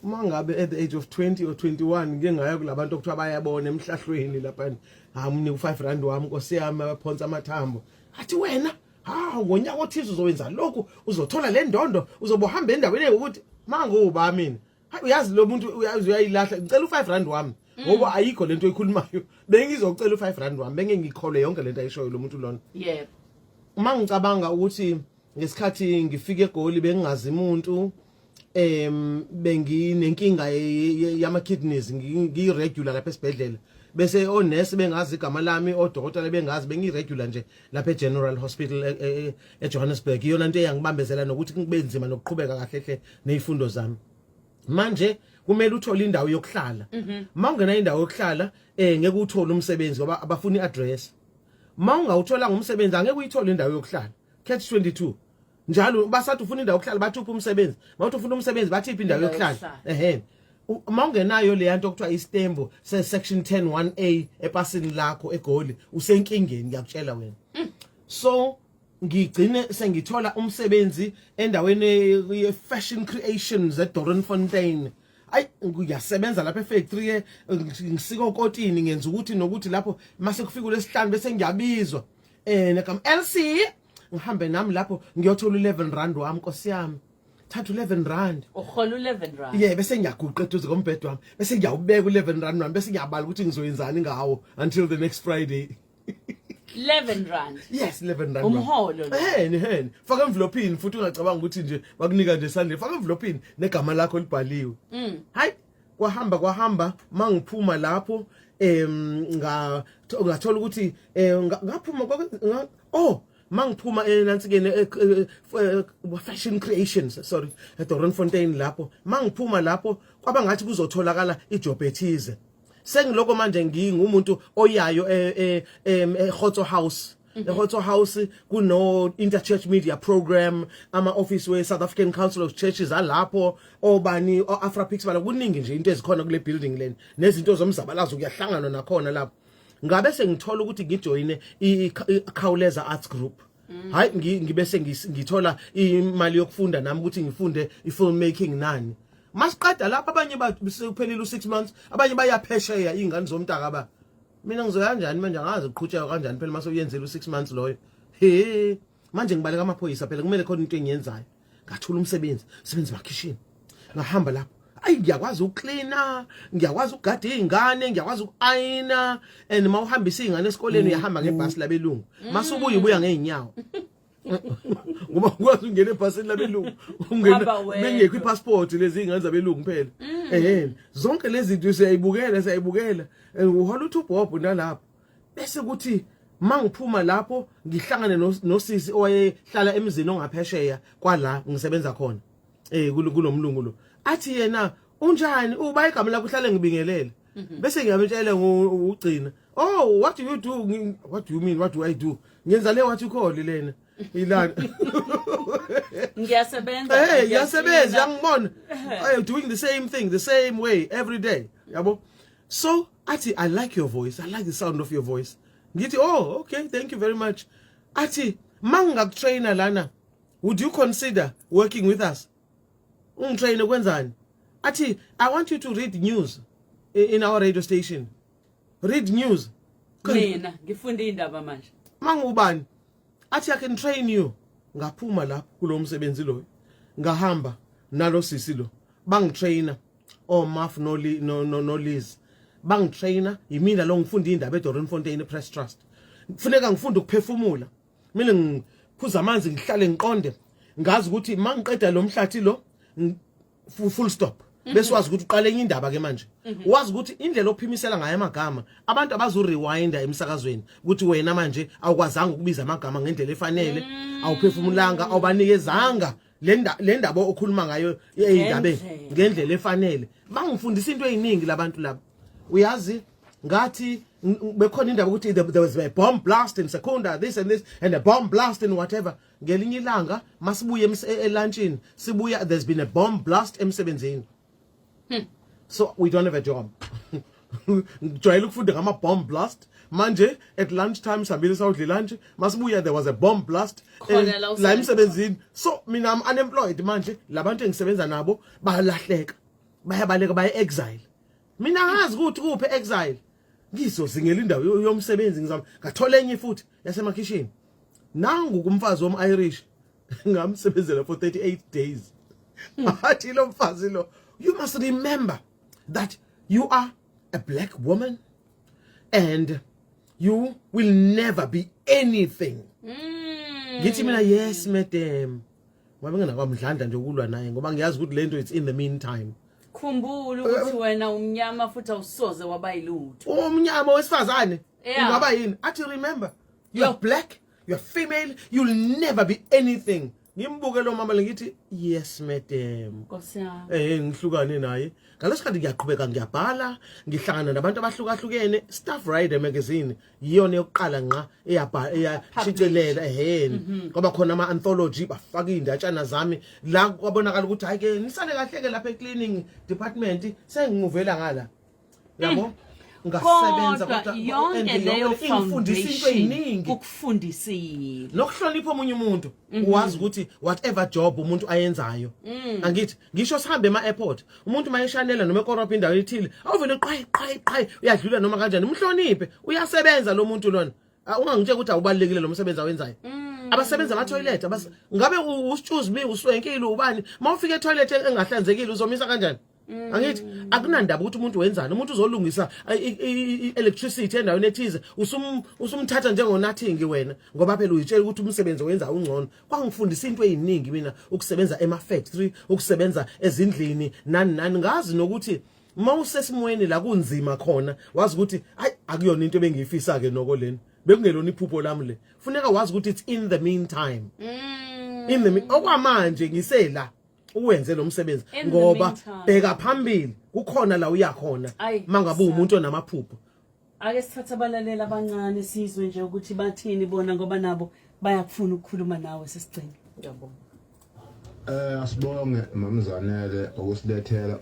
uma ngabe at the age of 20 or 21 ngike ngaya kulabantu okuthiwa bayabona emhlahlweni lapha hamni u5 rand wami nkosi yami abaphonsa amathambo athi wena ha ngonyaka othize uzowenza lokhu uzothola le ndondo uzobohamba endaweni ukuthi manguba mina hayi uyazi lo muntu uyazi uyayilahla ngicela u5 rand wami mm. ngoba ayikho lento oyikhulumayo bengizocela u5 rand wami benge ngikhole yonke lento ayishoyo lo muntu lona yebo uma ngicabanga ukuthi ngesikhathi ngifike egoli bengingazi umuntu em benginenkinga yama kidneys ngiyiregular lapha esibhedlela bese onesi bengazi igama lami odokotela bengazi bengiregular nje lapha eGeneral Hospital e, e, e, eJohannesburg iyona into eyangibambezela nokuthi kube nzima nokuqhubeka kahle hle nezifundo zami manje kumele uthole indawo yokuhlala mhm. uma ungena indawo yokuhlala eh ngeke uthole umsebenzi ngoba abafuni iaddress uma ungawuthola ngomsebenzi angeke uyithole indawo yokuhlala catch 22 njalo basathi ufuna indawo yokuhlala bathi uphi umsebenzi bathi ufuna umsebenzi bathi iphi indawo yokuhlala ehe uma ungenayo leya nto okuthiwa istembo se-section 10 1a epasini lakho egoli usenkingeni ngiyakutshela wena mm. so ngigcine sengithola umsebenzi endaweni ye-fashion creations edoronfontein ayi ngiyasebenza lapha efactory eh, ngisika okotini ngenza ukuthi nokuthi lapho mase kufika lesihlanu bese ngiyabizwa eh nakam LC ngihambe nami lapho ngiyothola u11 rand wami nkosi yami thatha u11 rand uhola u11 rand yeah bese ngiyaguqa eduze kombhedo wami bese ngiyawubeka u11 rand wami bese ngiyabala ukuthi ngizoyenzani ngawo until the next friday 11 rand yes 11 rand umholo eheni eheni faka envelope futhi ungacabanga ukuthi nje bakunika nje sandle faka envelope negama lakho libhaliwe mm. hayi kwahamba kwahamba mangiphuma lapho em nga ngathola ukuthi eh, ngaphuma oh mangiphuma enansikeni eh, eh, eh, fashion creations sorry eDoronfontein lapho mangiphuma lapho kwaba ngathi kuzotholakala ijob ethize sengiloko manje ngingumuntu oyayo eHotso House Mm-hmm. eHotso House kuno Interchurch Media Program ama office we South African Council of Churches alapho obani oAfrapix bala kuningi nje into ezikhona kule building leni nezinto zomzabalazo kuyahlanganwa nakhona lapho ngabe sengithola ukuthi ngijoyine ikhawuleza arts group mm. hayi ngibe sengithola imali yokufunda nami ukuthi ngifunde i-film making nani masiqeda lapha abanye baphelile u-six months abanye bayaphesheya iy'ngane zomntaka ba mina ngizoya kanjani manje angazi uqhutsheka kanjani phela uma sewuyenzela u-six months loyo he manje ngibaleka amaphoyisa phela kumele khona into engiyenzayo ngathula umsebenzi sebenzi makhishini ngahamba lapho ayi ngiyakwazi ukuklina ngiyakwazi ukugada izingane ngiyakwazi ukuayina and uma uhambisa izingane esikoleni mm, uyahamba ngebhasi mm. labelungu mm. masubuye ubuya ngeenyawo ngoba ukwazi ungena ebhasini labelungu ungena bengekho ipassport lezi ingane zabelungu phela eh zonke lezi zinto siyayibukela siyayibukela uhola uthi ubhobho nalapho bese kuthi mangiphuma lapho ngihlangane nosisi owayehlala emzini ongaphesheya kwala ngisebenza khona eh kulomlungu lo athi yena unjani uba igama lakho uhlale ngibingelele mhm. bese ngiyamtshela ngugcina oh what do you do what do you mean what do i do ngenza le wathi ukhole lena ilana ngiyasebenza eh ngiyasebenza ngibona i am doing the same thing the same way every day yabo so athi i like your voice i like the sound of your voice ngithi oh okay thank you very much athi mangingakutrainer lana would you consider working with us ungitraine kwenzani athi i want you to read news in our radio station read news mina ngifunde indaba manje mangubani athi i can train you ngaphuma lapho kulomsebenzi loyo ngahamba nalo sisi lo bangitrainer omaf oh, noliz no, no, no bangitraina yimina lo ngifunda indaba edorinfontein press trust kufuneka ngifunde ukuphefumula mina ngiphuza amanzi ngihlale ngiqonde ngazi ukuthi uma ngiqeda lo mhlathi lo full stop mhm. bese wazi ukuthi uqale enye indaba ke manje mhm. wazi ukuthi indlela ophimisela ngayo amagama abantu abazo rewinda emsakazweni ukuthi wena manje awukwazanga ukubiza amagama ngendlela efanele mm. awuphefumulanga awubanikezanga le ndaba okhuluma ngayo ey'ndabeni ngendlela efanele bangifundisa into ey'ningi labantu laba uyazi ngathi bekhona indaba ukuthi there was a bomb blast in secunda this and this and a bomb blast in whatever ngelinye ilanga masibuye elantshini sibuya there's been a bomb blast emsebenzini hmm. so we don't have a job ngijwayele ukufunda ngama-bomb blast manje at lunch time sihambile sawudle lunch masibuya there was a bomb blast eh, la emsebenzini so mina am unemployed manje labantu engisebenza nabo balahleka bayabaleka baye exile mina ngazi ukuthi kuphi exile ngizozingela indawo yomsebenzi ngizama ngathola enye futhi yasemakhishini nangu kumfazi wom-irish ngamsebenzela for 38 days ngathi lo mfazi lo you must remember that you are a black woman and you will never be anything mm. ngithi mina yes madam ngoba ngingakwamdlandla nje ukulwa naye ngoba ngiyazi ukuthi lento it's in the meantime khumbula ukuthi eh, wena umnyama futhi awusoze waba yilutho umnyama wesifazane ungaba yini athi remember you are black you are female you will never be anything ngimbuke lo mama lengithi yes madam Nkosi yami. eh ngihlukane naye ngalesikhathi ngiyaqhubeka ngiyabhala ngihlangana nabantu abahlukahlukene staff rider magazine yiyona yokuqala ngqa eyabha- eyashicilela eheni kwaba khona ama anthology bafaka izindatshana zami la kwabonakala ukuthi hayi ke nisale kahle ke lapha ecleaning department sengimuvela ngala yabo mm. ngasebenza kodwa yonke leyo ingifundisa into eziningi ukufundisile nokuhlonipha omunye umuntu mhm. uwazi ukuthi whatever job umuntu ayenzayo mm. angithi ngisho sihambe ema airport umuntu mayeshanela noma ekorobha indawo ethile awuvele qhayi qhayi qhayi uyadlula noma kanjani umhloniphe uyasebenza lo muntu lona ah, ungangitshela ukuthi awubalekile lo msebenzi awenzayo mm. abasebenza ama toilet ngabe usitshuzi bi uswenkile ubani mawufika e toilet engahlanzekile uzomisa kanjani Mm. angithi akunandaba ukuthi umuntu wenzani umuntu uzolungisa i-electricity endaweni ethize usumthatha njengonathingi wena ngoba phela uyitshela ukuthi umsebenzi owenza ungcono kwangifundisa into eyiningi mina ukusebenza ema-factory ukusebenza ezindlini nani nani ngazi nokuthi uma usesimweni la kunzima khona wazi ukuthi ayi akuyona into ebengiyifisa-ke noko leni bekungelona iphupho lami le funeka wazi ukuthi it's in the meantime mm. in the okwamanje ngisela uwenze lo msebenzi ngoba bheka phambili kukhona la uya khona mangabe umuntu onamaphupho ake sithathe abalalela abancane sizwe nje ukuthi bathini bona ngoba nabo bayakufuna ukukhuluma nawe sesigcina ngiyabonga eh asibonge mamzanele ukusilethela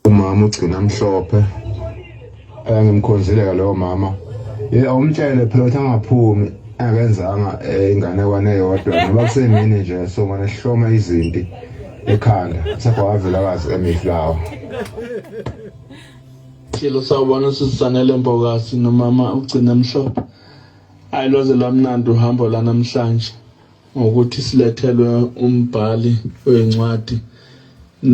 umama ugcina mhlophe ayangimkhonzile ke lowo mama ye awumtshele phela ukuthi angaphumi akenzanga eh, inganekwane eyodwa ngoba kusemini nje so ngane sihloma izinti ekhanda sakwavelakazi emiflawa Silo sawubona usisanele Mbokasi nomama ugcina mhlophe. Ayi lwaze lwamnandi uhambo la namhlanje. ngokuthi silethelwe umbhali wencwadi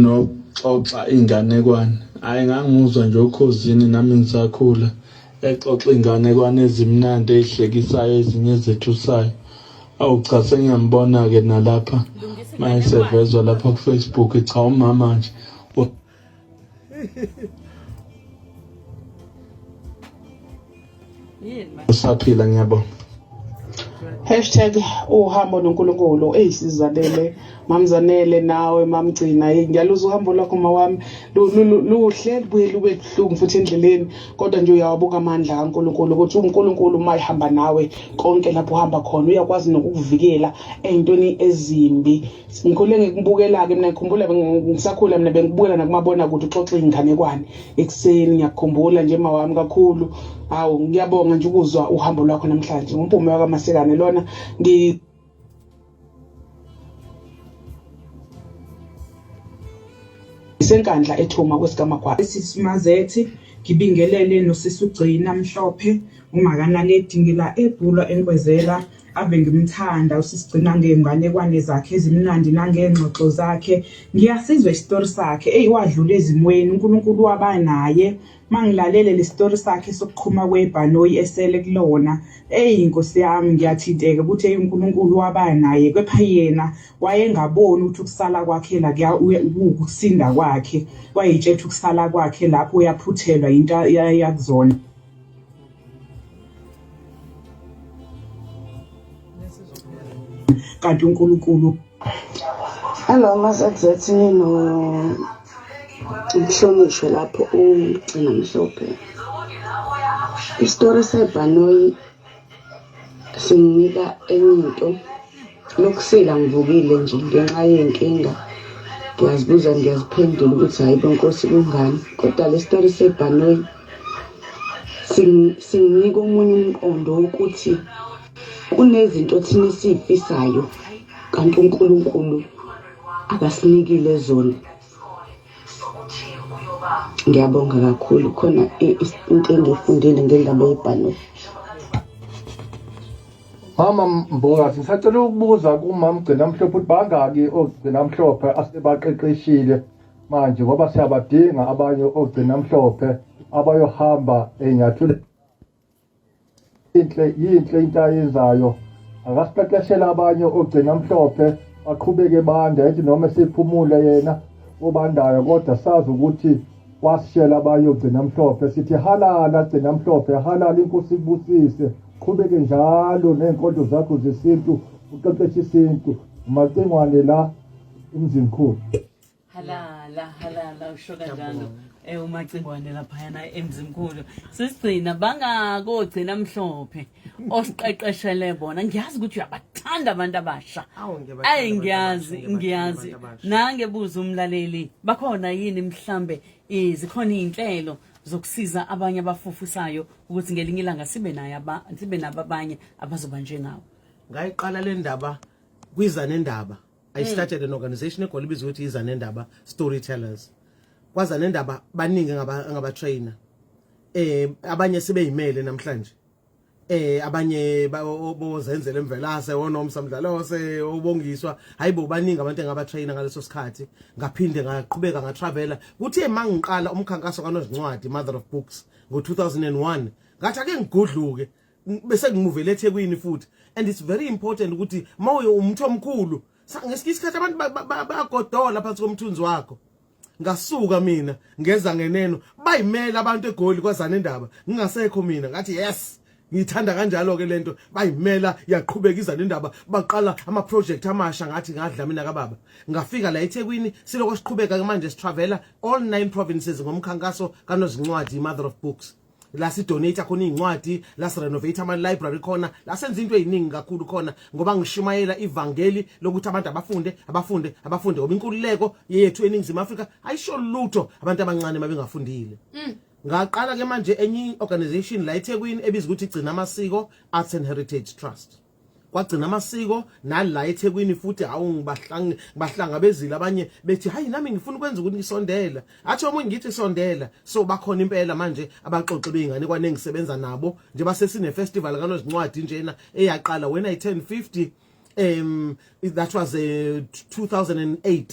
noxoxa inganekwane hhayi ngangimuzwa nje okhozini nami ngisakhula exoxa inganekwane ezimnandi eyihlekisayo ezinye ezethusayo awu cha sengiyambona-ke nalapha mayesevezwa lapha kufacebook cha umama nje usaphila ngiyabonga hashtag uhambo nonkulunkulu eyi sizalele mamzanele nawe mamgcina eyi ngiyaluza uhambo lwakho mawami luhle lubuye lube buhlungu futhi endleleni kodwa nje uyawabuka amandla kankulunkulu ukuthi unkulunkulu uma ehamba nawe konke lapho uhamba khona uyakwazi nokukuvikela ey'ntweni ezimbi ngikhule ngikubukela-ke mina ngikhumbula ngisakhula mina bengikubukela nakumabona kude uxoxa iy'nganekwane ekuseni ngiyakukhumbula nje ma wami kakhulu hawu ngiyabonga nje ukuzwa uhambo lwakho namhlanje ngumpume wakamasekane lona ngi isenkandla ethuma kwesikamagwala sisimazethi ngibingelele nosisi ugcina mhlophe umakanaledi ngila ebhulwa enkwezela Ave ngimthanda usisigcina ngey'nganekwane zakhe ezimnandi nangey'ngxoxo zakhe ngiyasizwa isitori sakhe eyi wadlula ezimweni unkulunkulu waba naye uma ngilalele le sitori sakhe sokuqhuma kwebhanoyi esele kulona eyi nkosi yami ngiyathinteka ukuthi eyi unkulunkulu waba naye kepha yena wayengaboni ukuthi ukusala kwakhe la kuwukusinda kwakhe wayetshetha ukusala kwakhe lapho uyaphuthelwa yinto yakuzona kanti uNkulunkulu Hello MaZZ no Mhlonishwe lapho ugcina mhlophe Isitori sebhanoyi singinika enye into Nokusila ngivukile nje ngenxa yenkinga ngiyazibuza ngiyaziphendula ukuthi hayi bo nkosi kungani kodwa le story sebhanoyi singinika omunye umqondo wokuthi kunezinto thina esiyifisayo kanti uNkulunkulu akasinikile zona ngiyabonga kakhulu khona into engiyifundile ngendaba yebhanoyi Mama Mbokazi ngisacela ukubuza kumama Gcina Mhlophe ukuthi bangaki ogcina mhlophe asebaqeqeshile manje ngoba siyabadinga abanye ogcina mhlophe abayohamba enyathule inhle yinhle into ayenzayo akasiqeqeshela abanye ogcina mhlophe baqhubeke banda ethi noma siphumule yena obandayo kodwa sazi ukuthi wasishela abayo gcina mhlophe sithi halala gcina mhlophe halala inkosi kubusise qhubeke njalo neenkonzo zakho zesintu uqeqeshe isintu umacingwane la emzimkhulu halala halala usho kanjalo eh umacingwane laphayana emzimkhulu sisigcina bangakogcina mhlophe osiqeqeshele bona ngiyazi ukuthi uyabathanda abantu abasha ayi ngiyazi ngiyazi nange buza umlaleli bakhona yini mhlambe zikhona izinhlelo zokusiza abanye abafufusayo ukuthi ngelinye ilanga sibe naye sibe nabo abanye abazoba njengawo ngayiqala le ndaba kwiza nendaba I mm. started an organization eGoli ibizwa ukuthi izanendaba storytellers. Kwazanendaba baningi ngaba ngaba trainer. Eh abanye sebeyimele namhlanje. Eh abanye bozenzele emvelase wonomsa mdlalose obongiswa hayibo baningi abantu engaba trainer ngaleso sikhathi ngaphinde ngaqhubeka nga traveler kuthe mangiqala umkhankaso kanozincwadi mother of books ngo 2001 ngathi ake ngigudluke bese ngimuvele eThekwini futhi and it's very important ukuthi mawuye umtho omkhulu ngesikhe isikhathi abantu bayagodola phansi komthunzi wakho ngasuka mina ngeza ngeneno bayimela abantu egoli kwazana indaba ngingasekho mina ngathi yes ngithanda kanjalo ke lento bayimela yaqhubeka iza nendaba baqala ama project amasha ngathi ngadla mina kababa ngafika la eThekwini siloko siqhubeka ke manje sitravela all nine provinces ngomkhankaso kanozincwadi mother of books la sidonate khona izincwadi la sirenovate ama library khona la senza into eziningi kakhulu khona ngoba ngishumayela ivangeli lokuthi abantu abafunde abafunde abafunde ngoba inkululeko yethu eningizimu Afrika ayisho lutho abantu abancane mabengafundile mm. ngaqala ke manje enye organization la eThekwini ebizwa ukuthi gcina amasiko arts and heritage trust kwagcina amasiko nala eThekwini futhi hawu ngibahlangi bahlangabezile abanye bethi hayi nami ngifuna ukwenza ukuthi ngisondela athi omunye ngithi sondela so bakhona impela manje abaxoxe beingane kwanengisebenza nabo nje basesine festival kanozincwadi njena eyaqala when i turn 50 um that was a eh, 2008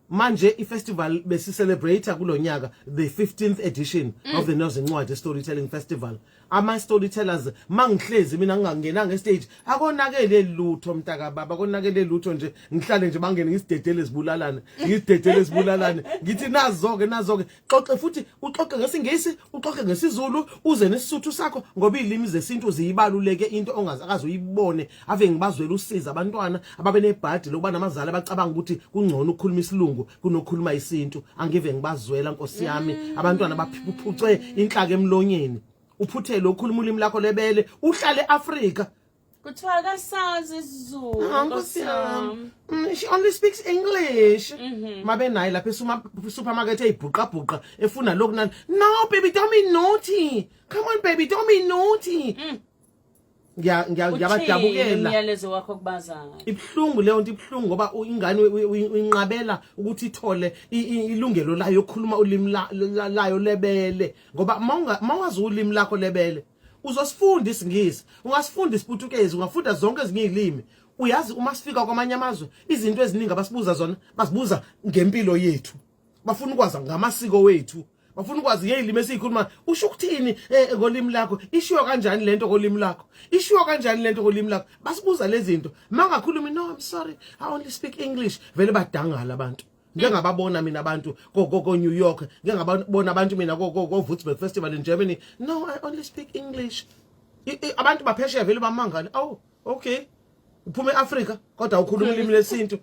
manje ifestival besicelebrate kulonyaka the 15th edition mm. of the Nozincwadi Storytelling Festival ama storytellers mangihlezi mina ngingangena nge stage akonakele lutho mntaka baba konakele lutho nje ngihlale nje bangene ngisidedele sibulalane ngisidedele sibulalane ngithi nazoke nazoke xoxe futhi uxoxe ngesingisi uxoxe ngesizulu uze nesisuthu sakho ngoba izilimi zesintu ziyibaluleke into ongazi akaze uyibone ave ngibazwela usiza abantwana ababe nebhadi lokuba namazali abacabanga ukuthi kungcono ukukhuluma isilungu kunokukhuluma isintu angive ngibazwela nkosi yami mm. abantwana baphucwe inhlaka emlonyeni uphuthelwe ukhuluma ulimi lakho lebele uhlale eAfrika Kuthiwa akasazi isiZulu. Ah, Nkosi yami. Mm, she only speaks English. Mhm. Mabe naye lapha esuma supermarket eyibhuqa bhuqa efuna lokhu nani. No baby don't be naughty. Come on baby don't be naughty. Mm. Ngiya ngiya Uthini ngiyabadabukela. umyalezo wakho kubazayo. Ibhlungu leyo nto ibhlungu ngoba u- ingane uyi- uyi- uyinqabela ukuthi ithole i- i- ilungelo layo yokukhuluma ulimi la- la- layo lebele ngoba mawunga- mawazi ulimi lakho lebele uzosifunda isingisi ungasifunda isiputukezi ungafunda zonke ezinye izilimi uyazi uma sifika kwamanye amazwe izinto eziningi abasibuza zona basibuza ngempilo yethu bafuna ukwazi ngamasiko wethu bafuna ukwazi ngeyilimi esiyikhuluma usho ukuthini eh, ngolimi lakho ishiwo kanjani lento ngolimi lakho ishiwo kanjani lento ngolimi lakho basibuza lezi zinto mangakhulumi no i'm sorry i only speak english vele badangala abantu ngike ngababona mina abantu ko ko, ko New York ngike ngababona abantu mina ko ko, ko Würzburg Festival in Germany no i only speak english I, I, abantu baphesheya vele bamangale awu oh, okay uphuma eAfrika kodwa ukhuluma ulimi lesintu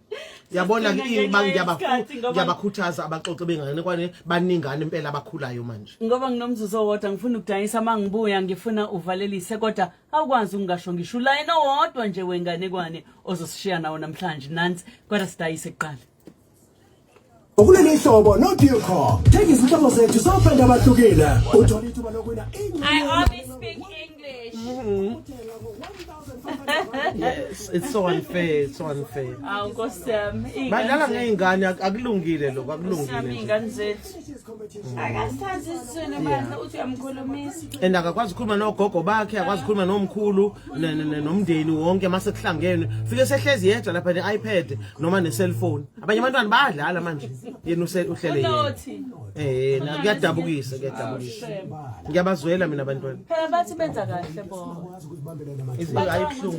yabona ke ngiyabakhuthaza abaxoxe bengane kwane baningana impela abakhulayo manje ngoba nginomzuzu owodwa ngifuna ukudayisa mangibuya ngifuna uvalelise kodwa awukwazi ukungasho ngisho ulayini owodwa nje wenganekwane ozosishiya nawo namhlanje nansi kodwa sidayise kuqala ukuleli hlobo no Duco thenga izihlobo zethu sofenda abahlukile uthola ithuba lokuwina I always speak English mm-hmm. yes it's so unfair it's so unfair awu nkosiyami badlala ngeingane akulungile lokho akulungile ingane zethu and akakwazi ukukhuluma nogogo bakhe akwazi ukukhuluma nomkhulu nomndeni wonke uma sekuhlangene fike sehlezi yedwa lapha ne-ipad noma ne-cellphone abanye abantwana bayadlala manje yena uhlele yena eh kuyadabukisa kuyadabukisa ngiyabazwela mina abantwana phela bathi benza kahle bona izinto ayibhlungu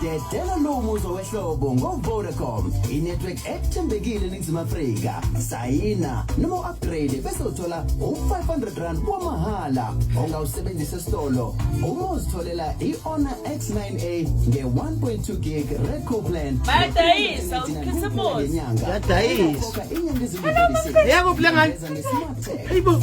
Dedela lo muzwa wehlobo ngoVodacom, inetwork ethembekile eNingizimu Afrika. Sayina noma u-upgrade bese uthola u-500 rand wamahhala ongawusebenzisa esitolo uma uzitholela i-Honor X9A nge-1.2 gig Redco plan. Bayadayisa, uKhisimusi. Yadayisa. Inyanga ezimbalwa. Yebo, Bhlangani. Ngesimacebo. Eyibo.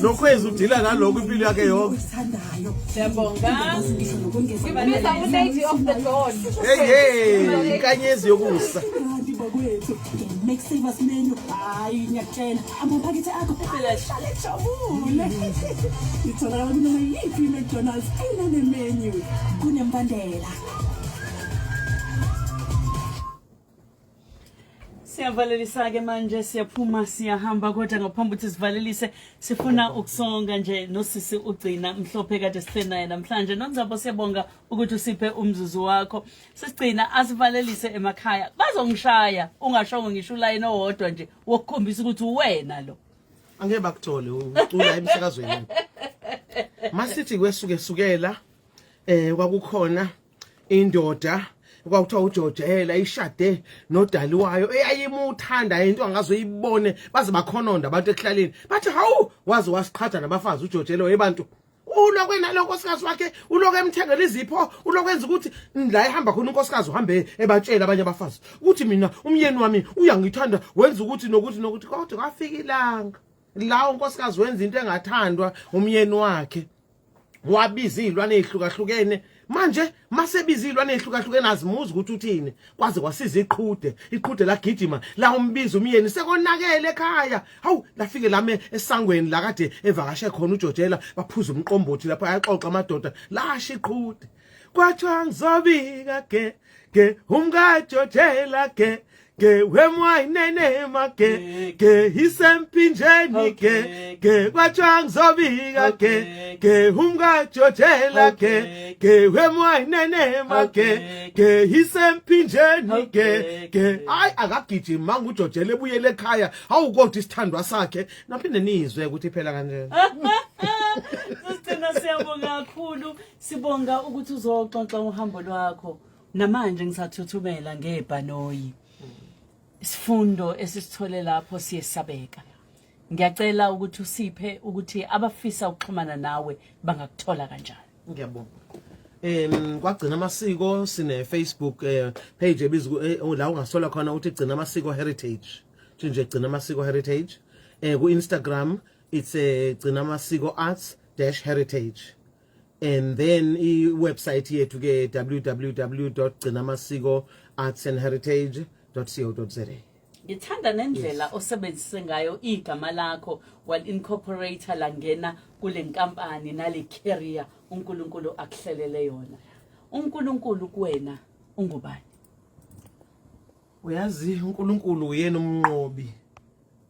nokhwezi udila naloko impilo yakhe yonke inkanyezi yokusa itholakala kunoma yiphi i-mcdonalds enanemenu kunembandela siyavalelisa-ke manje siyaphuma siyahamba kodwa ngaphambi ukuthi sivalelise sifuna ukusonga nje nosisi ugcina mhlophe kade sihleli naye namhlanje nonzabo siyabonga ukuthi usiphe umzuzu wakho sisigcina asivalelise emakhaya bazongishaya ungashongo ngisho ulayini owodwa nje wokukhombisa ukuthi uwena lo angeke bakuthole ucula emsakazweni masithi kwesuke sukela eh kwakukhona indoda kwakuthiwa ujojela ishade nodali wayo eyayimuthanda into angazoyibone baze bakhononda abantu ekuhlaleni bathi hawu waze wasiqhatha nabafazi ujojela webantu ulokwe naloko nkosikazi wakhe ulokwe emthengela izipho ulokwenza ukuthi la ehamba khona unkosikazi uhambe ebatshela abanye abafazi ukuthi mina umyeni wami uyangithanda wenza ukuthi nokuthi nokuthi kodwa kwafika ilanga la unkosikazi wenza into engathandwa umyeni wakhe wabiza izilwane ezihlukahlukene manje masebiza izilwane ezihlukahlukene azimuzi ukuthi uthini kwaze kwasiza iqhude iqhude lagijima la umbiza umyeni sekonakele ekhaya hawu lafike lame esangweni la kade evakashe khona uJojela baphuza umqombothi lapha ayaxoxa amadoda lasha iqhude kwathiwa ngizobika ke ke umkajojela ke ke wemwayinenema ke ke isempinjeni ke ke kwathiwa ngizobika ke ke umkajojela ke ke wemwayinenema ke ke isempinjeni ke ke hayi akagijimi manga ujojela ebuyele ekhaya awukodwa isithandwa sakhe naphinde nizwe ukuthi phela kanjena Sicela siyabonga kakhulu Sibonga ukuthi uzoxoxa uhambo lwakho. Namanje ngisathuthumela ngebhanoyi. Isifundo esisithole lapho siyesabeka. Ngiyacela ukuthi usiphe ukuthi abafisa ukuxhumana nawe bangakuthola kanjani. Ngiyabonga. em kwagcina amasiko sine Facebook eh, page ebizwa ku- eh, la ungasola khona uthi gcina amasiko heritage uthi nje gcina amasiko heritage eh ku Instagram it's eh, gcina amasiko arts dash heritage and then i-website yethu ke www gcinamasiko arts and heritage co za ngithanda nendlela yes. osebenzise ngayo igama lakho wal incorporator langena kule nkampani nale carrier uNkulunkulu akuhlelele yona uNkulunkulu kuwena ungubani uyazi uNkulunkulu uyena umnqobi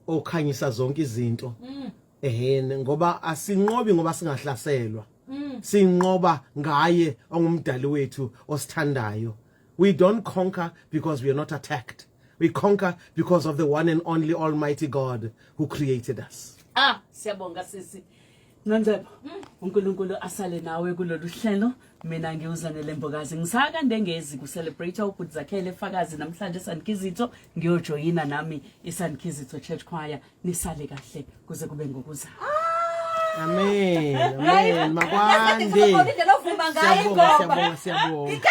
okhanyisa zonke izinto mm. ehene ngoba asinqobi ngoba singahlaselwa mm. sinqoba ngaye ongumdali wethu osithandayo we don't conquer because we are not attacked we conquer because of the one and only almighty god who created us ah siyabonga sisi Nonzebo mm. uNkulunkulu asale nawe kulolu hlelo mina ngiwuzanele mbokazi ngisaka ndengezi ku celebrate ubhuti zakhele fakazi namhlanje eSandkizitho ngiyojoyina nami iSandkizitho Church Choir nisale kahle kuze kube ngokuza amen amen makwande siyabonga siyabonga siyabonga